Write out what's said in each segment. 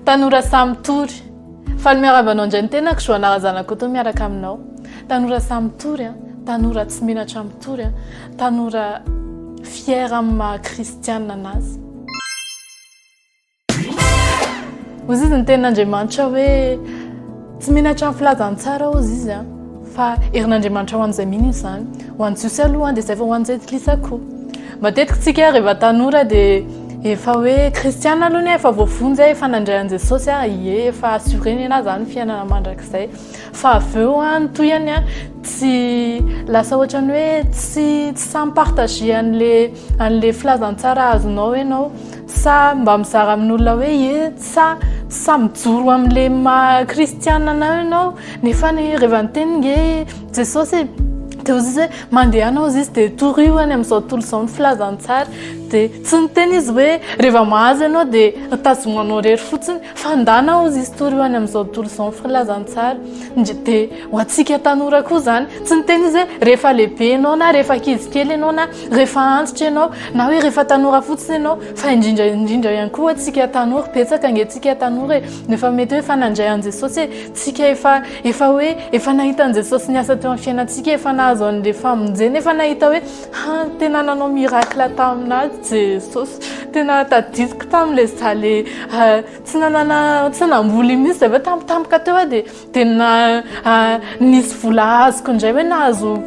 Tanora samy tory. Faly miarahaba anao indray ny tenako Joana Razanakoto miaraka aminao. Tanora samy tory an, tanora tsy menatra amin'ny tory an, tanora fier amin'ny maha kristianina anazy. Hozy izy ny tenin'Andriamanitra hoe tsy menatra amin'ny filazantsara hozy izy a fa herin'Andriamanitra ho an'izay mino izany ho an'ny jiosy aloha dia izay vao ho an'ny jentilisa koa matetika tsika rehefa tanora dia efa hoe kristiana aloha ny efa voavonjy efa nandray an'i jesosy a ie efa assuré ny anah zany fiainana mandrakizay fa avy eo a ny tohiny a tsy lasa ohatran'ny hoe tsy tsy samy partage an'le an'le filazantsara azonao ianao Sa mba mizara amin'olona hoe ie sa sa mijoro amin'le maha kristiana anao ianao nefany reva niteny nge Jesosy e de ozy izy hoe mandeha anao ozy izy de torio any amin'izao tontolo izao ny filazantsara de tsy niteny izy hoe reva mahazo ianao de tazomanao rery fotsiny fa ndana ozy izy torio any amin'izao tontolo izao ny filazantsara de Ho antsika tanora koa izany, tsy ny tena izy hoe rehefa lehibe ianao na rehefa ankizy kely ianao na rehefa antitra ianao na hoe rehefa tanora fotsiny ianao fa indrindra indrindra ihany koa antsika tanora, betsaka ange antsika tanora e, no efa mety hoe efa nandray an'i Jesosy e, tsika efa efa hoe efa nahita an'i Jesosy niasa teo amin'ny fiainantsika, efa nahazo an'ilay famonjena, efa nahita hoe ha tena nanao miracle taminà Jesosy, tena tadidiko tamin'ilay za le tsy nanana tsy namboly mihitsy za ve tampotampoka teo dia Tena nisy vola azoko indray hoe nahazo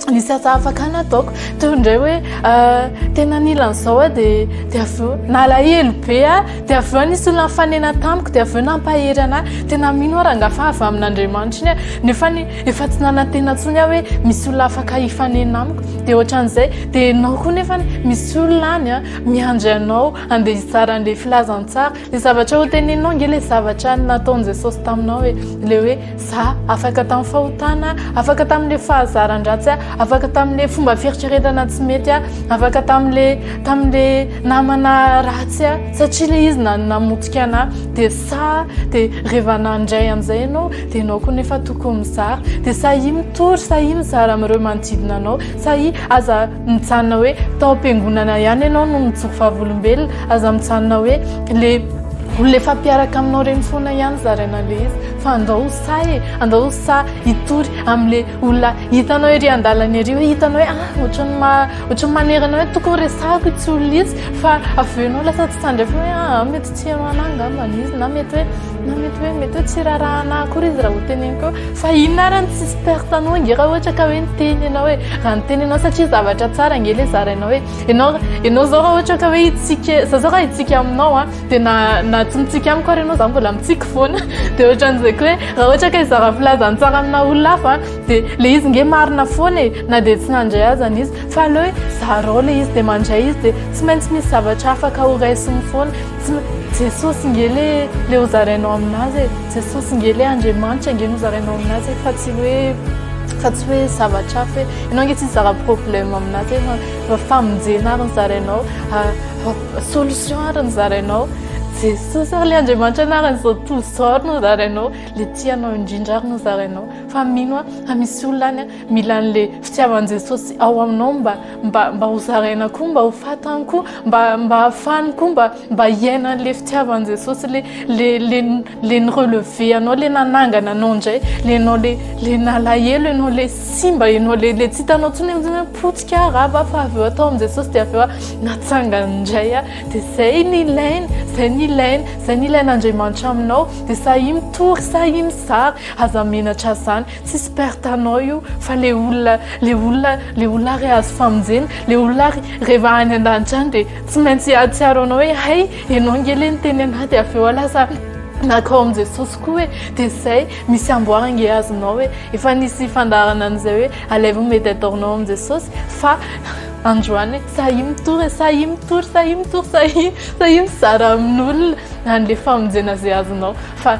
nisy asa afaka nataoko teo indray hoe tena nila an'izao a dia dia avy eo nalahelo be a dia avy eo nisy olona nifanena tamiko dia avy eo nampahery anà tena mino aho rangah fa avy amin'Andriamanitra iny a nefa ny efa tsy nanantena intsony aho hoe misy olona afaka hifanena amiko dia ohatran'izay dia ianao koa nefa misy olona any a miandry anao andeha hizara an'ilay filazantsara Ny zavatra ho teneninao ange ilay zavatra nataon'i Jesosy taminao e. Ilay hoe za afaka tamin'ny fahotana, afaka tamin'ilay fahazaran-dratsy aho, afaka tamin'ilay fomba fieritreretana tsy mety aho, afaka tamin'ilay tamin'ilay namana ratsy aho satria ilay izy na- namotika anahy. Dia sa dia rehefa nandray an'izay ianao dia ianao koa nefa tokony mizara. Dia sahia mitory, sahia mizara amin'ireo manodidina anao, sahia aza. mijanona hoe tao am-piangonana ihany ianao no mijoro vavolombelona, aza mijanona hoe le olona efa mpiaraka aminao ireny foana ihany zaraina an'ilay izy fa andao ho sahy e, andao ho sahy hitory amin'ilay olona hitanao ery an-dalana ery hoe hitanao hoe ah ohatran'ny ma- ohatran'ny manerana hoe tokony resahako itsy olona itsy fa avy eo ianao lasa tsy tandrefana hoe ah mety tsy heno anah angambany izy na mety hoe Na mety hoe mety hoe tsy raharahana akory izy raha hoteneniko hoe fa inona ary ny tsisy perte anao ange raha ohatra ka hoe niteny ianao hoe raha niteny ianao satria zavatra tsara ange le zarainao hoe ianao ianao zao raha ohatra ka hoe hitsika za zao raha hitsika aminao a dia na na tsy mitsika amiko ary ianao za mbola mitsiky foana dia ohatran'izay koa hoe raha ohatra ka hizara filaza ny tsara amina olona hafa dia le izy nge marina foana e na dia tsy nandray azany izy fa aleo hoe zarao le izy dia mandray izy dia tsy maintsy misy zavatra afaka horaisin'ny foana Jesosy nge le le hozarainao aminazy e Jesosy nge le Andriamanitra nge nozarainao aminazy e fa tsy hoe fa tsy hoe zavatra hafa hoe ianao nge tsy nizara problème aminazy e fa famonjena ary nizarainao solution ary nizarainao Jesosy ary le Andriamanitra anaran'izao tontolo izao ary nozarainao le tianao indrindra ary nozarainao fa mino aho fa misy olona any Mila an'le fitiavan'i Jesosy ao aminao mba mba mba ho zaraina koa mba ho fatany koa mba mba hafany koa mba mba hiaina an'le fitiavan'i Jesosy le le le le ny relever anao le nanangana anao indray le anao le le nalahelo ianao le simba ianao le le tsy hitanao tsony hoe potika rava fa avy eo atao amin'i Jesosy dia avy eo natsangana indray ah dia zay ny ilaina zay ny ilaina zay ny ilain'Andriamanitra aminao dia sahia mitory sahia mizara aza menatra zany Tsisy perte à nao io fa le olona le olona le olona ary azo famonjena le olona ary rehefa any an-danitra any dia tsy maintsy hahatsiaro anao hoe hay ianao ange le niteny anah dia avy eo aho lasa nakao amin'i Jesosy koa hoe dia izay misy amboara ange azonao hoe efa nisy fandaharana an'izay hoe alaivo ny mediator-nao amin'i Jesosy fa androany sahia mitory sahia mitory sahia mitory sahia sahia mizara amin'olona any le famonjena izay azonao fa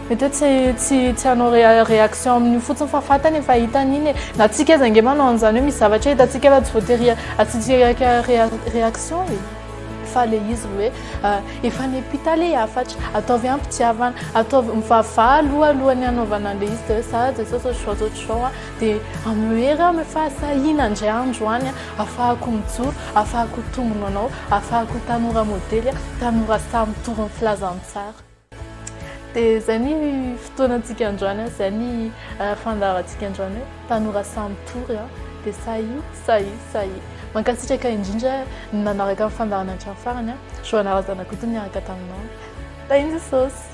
Mety hoe tsy tsy tsy hanao réaction amin'io fotsiny fa fantany efa hitany iny e. Na antsika aza ange manao an'izany hoe misy zavatra hitantsika fa tsy voatery asiantsika réaction e. Fa ilay izy hoe efa any am-pita ilay hafatra, ataovy am-pitiavana, ataovy mivavaha aloha alohan'ny hanaovana an'ilay izy dia hoe za Jesosy ô zao zao zao zao a, dia amlhery aho efa sahina indray andro any a, afahako mijoro, afahako tombina ho anao, afahako ho tanora modely, tanora sahy mitory ny filazantsara. Dia izay ny fotoanantsika androany, izay ny eh, fandaharantsika androany hoe tanora sahy mitory ah. dia sahy sahy sahy. Mankasitraka indrindra ny nanaraka ny fandaharana hatramin'ny farany a. Ah. Joana Razanakoto niaraka taminao. Tahin'i Jesosy.